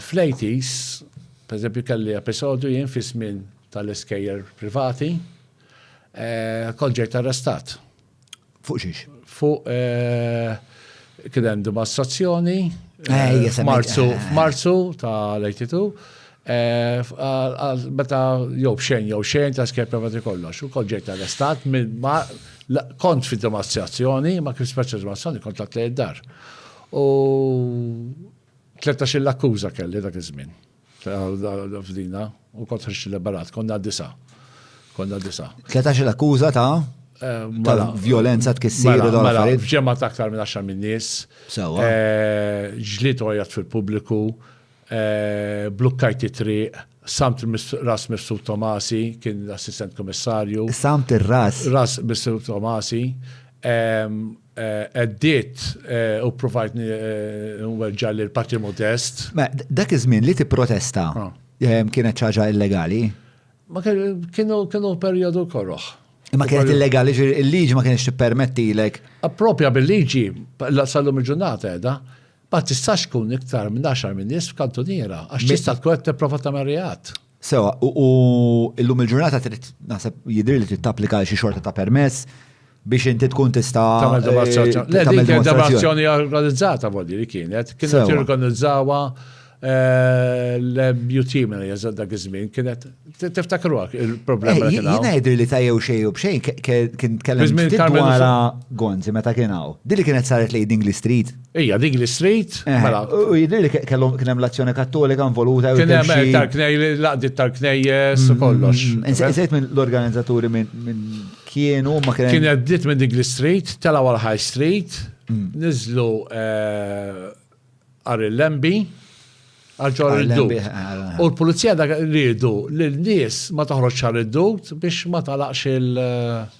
Fl-80s, pereżempju kelli episodju jien fi żmien tal-iskejjer privati, kont ġejt arrestat. Fuq xiex? Fuq kien hemm dimostrazzjoni f'Marzu f'Marzu tal-82 meta jew xejn jew xejn ta' skejjer privati kollox. U kont ġejt arrestat minn kont fi dimostrazzjoni, ma kif speċjal dimostrazzjoni kont tlaqt lejn id-dar. U 13-il akkuża kelli dak iż-żmien. F'dina, u kont ħriġt liberat, konna disa. Konna disa. 13-il akkuża ta' eh, mela, violenza tkissir mela, u mela, Ġemma ta' aktar minn 10 minn nies. Sewa. Eh, ġliet ojat fil-pubbliku, eh, blukkajt it-triq, samt ras Mifsud Tomasi, kien l-assistent komissarju. Samt ir-ras. Ras Mifsud Tomasi. Ehm, Għeddiet u provajt nweġġa' lil Patri Modest. Ma dak iż-żmien li tipprotesta kienet ċaġa illegali? Ma kienu kienu perjodu koroħ. Ma kienet illegali, il-liġi ma kienx tippermettilek. Appropja bil-liġi, sal-lum il-ġurnata edha, ma tistax tkun iktar minn 10 minn nies f'kantuniera, għax tista' tkun qed tipprova tagħmel reat. Sewa, u illum il-ġurnata trid naħseb jidhirli li trid tapplika għal xi xorta ta' permess biex inti tkun tista' tagħmel demonstrazzjoni. Le, dik kienet demonstrazzjoni organizzata voli li kienet, kienet jirganizzawha eh, l-MUT minn jeżad dak iż-żmien kienet tiftakruha il-problema eh, li kien. Jiena jidhir li tajjew xejn u b'xejn kien tkellem dwar Gonzi meta kien hawn. Dili kienet saret lejn Dingli Street. Ija, dik li street. Eh, mela. U jidri li kellhom kien hemm l-azzjoni kattolika involuta. Kien hemm eh, tal-knej, l-laqdiet tal-knejjes u mm, kollox. Mm, mm. Insejt minn l-organizzaturi minn kienu ma kien. Kien għaddit minn dik li street, tela għal High Street, niżlu eh, għar il-lembi għalġor id-dut. Eh, eh. U l-pulizija dak rridu l-nies ma taħroġ għal id-dut biex ma talaqx il- eh,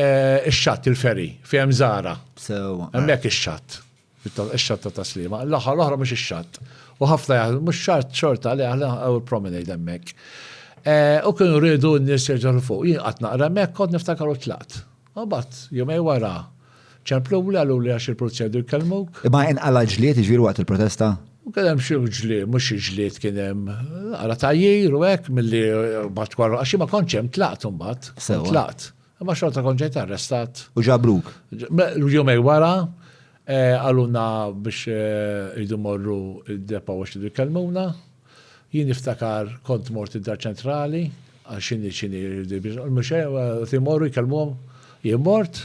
Ix-xatt, il-ferry, fejn hemm żgħara. Sewwa. Hemmhekk ix-xatt. Ix-xatt ta' Taslima. L-aħħar l-oħra mhux ix-xatt. U ħafna jaħdmu mhux xatt xorta li aħna hawn il-promenade hemmhekk. U kienu rridu n-nies jerġgħu fuq. Jien qatt naqra hemmhekk kont niftakar u tlaqt. U mbagħad jumej wara Ċappluh li qaluli għax il-pulizija jdu jkellmuk. Imma inqala' l-ġlied jiġifieri waqt il-protesta? Kien hemm xi ġlied, mhux xi ġlied kien hemm. Ara tgħajjir u hekk milli mbagħad wara għax jien ma kontx hemm tlaqt imbagħad. Sewwa. Tlaqt. Imma xorta kont ġejt arrestat. U ġabruk? Jumejn wara qalulna biex irridu mmorru d-depo għax irridu jkellmuna. Jien niftakar kont mort id-Dar Ċentrali għax x'inhi x'inhi mhux hekk, qed imorru jkellmuhom. Jien mort,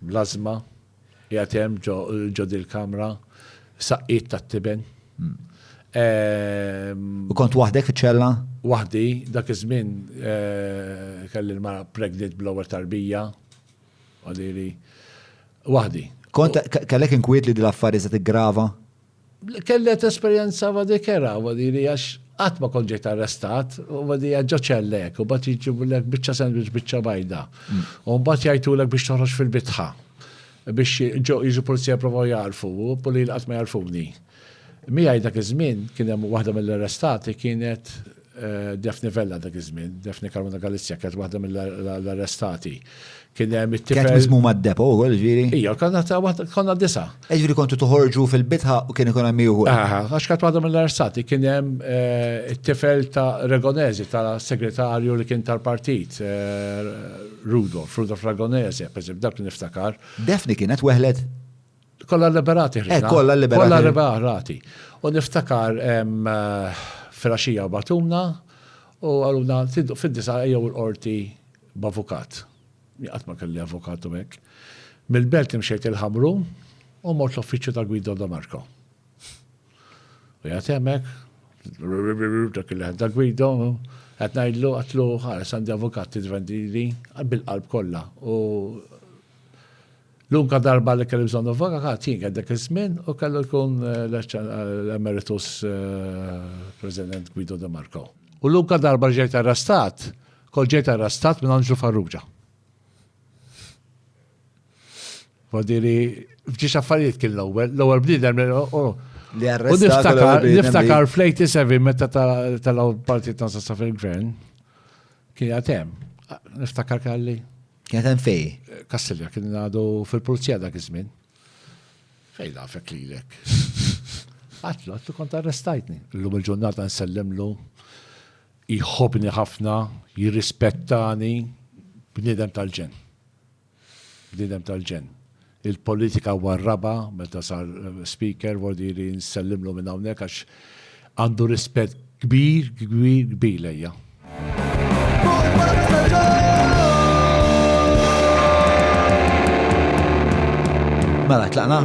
Bl-ażma, qiegħed hemm ġo dil-kamra, saqqiet tat-tiben. U kont waħdek fiċ-ċella? Waħdi, dak iż-żmien eh, kelli l-mara pregnant bl-ewwel tarbija. Għadili. Waħdi. Kont kellek inkwiet li dil-affarijiet se tiggrava? Kellet esperjenza wadi kera wadi li għax qatt ma kont ġejt arrestat u wadi għax ġo ċellek u bat jiġibulek biċċa sandwich biċċa bajda. U mbagħad jgħidtulek biex toħroġ fil-bitħa biex jiġu pulizija jipprovaw jagħrfu u pulil qatt ma jagħrfuni. Miegħi dak iż-żmien kien hemm waħda mill-arrestati kienet Daphne Vella dak iż-żmien, Daphne Caruana Galizia kienet waħda mill-arrestati. Kien hemm it-tifel. Kienet miżmuma d-depo wkoll ġifieri? Ija, konna ta' waħda konna disa. E ġifieri kontu toħorġu fil-bitħa u kien ikun hemm ieħor. Aha, għax kienet waħda mill-arrestati kien hemm eh, it-tifel ta' Regonezi tal-segretarju li kien tal-partit eh, Rudolf, Rudolf Ragonezi, pereżempju, dak li niftakar. Daphne kienet weħlet? Kolla liberati ħriġna. Eh, kolla liberati. Kolla liberati. U niftakar eh, fraxija batuna u għaluna tiddu fid-disa jew l-qorti b'avukat. Għat ma kelli avukatu mek. Mil-belt imxejt il-ħamru u mort l-uffiċċju ta' Guido Domarko. U jgħatemek, dak il-ħed ta' Guido, għat najdlu għatlu ħares għandi avukat t-vendili bil-qalb kolla. U L-unka darba li kelli bżonn avvokat jien kien dak iż-żmien u kellu jkun l-emeritus President Guido De Marco. U l-unka darba ġejt arrestat, kol ġejt arrestat minn Anġlu Farrugia. Għadiri, fġiex affarijiet kien l-ewwel, l-ewwel bniedem li arrestat. Niftakar flejti sevi meta tal-partit ta' fil-gvern kien għatem. Niftakar kalli. Kienet hemm fej? Kastilja kien għadu fil-pulizija dak iż-żmien. Fej nafek lilek. Għatlu, għatlu kont arrestajtni. Illum il-ġurnata nsellimlu, jħobni ħafna, jirrispettani, bnidem tal-ġen. Bnidem tal-ġen. il-politika huwa r-raba' meta sar Speaker, vodi li nsellimlu minn hawnhekk għax għandu rispett kbir, kbir, kbir lejja. Mela, tlaqna?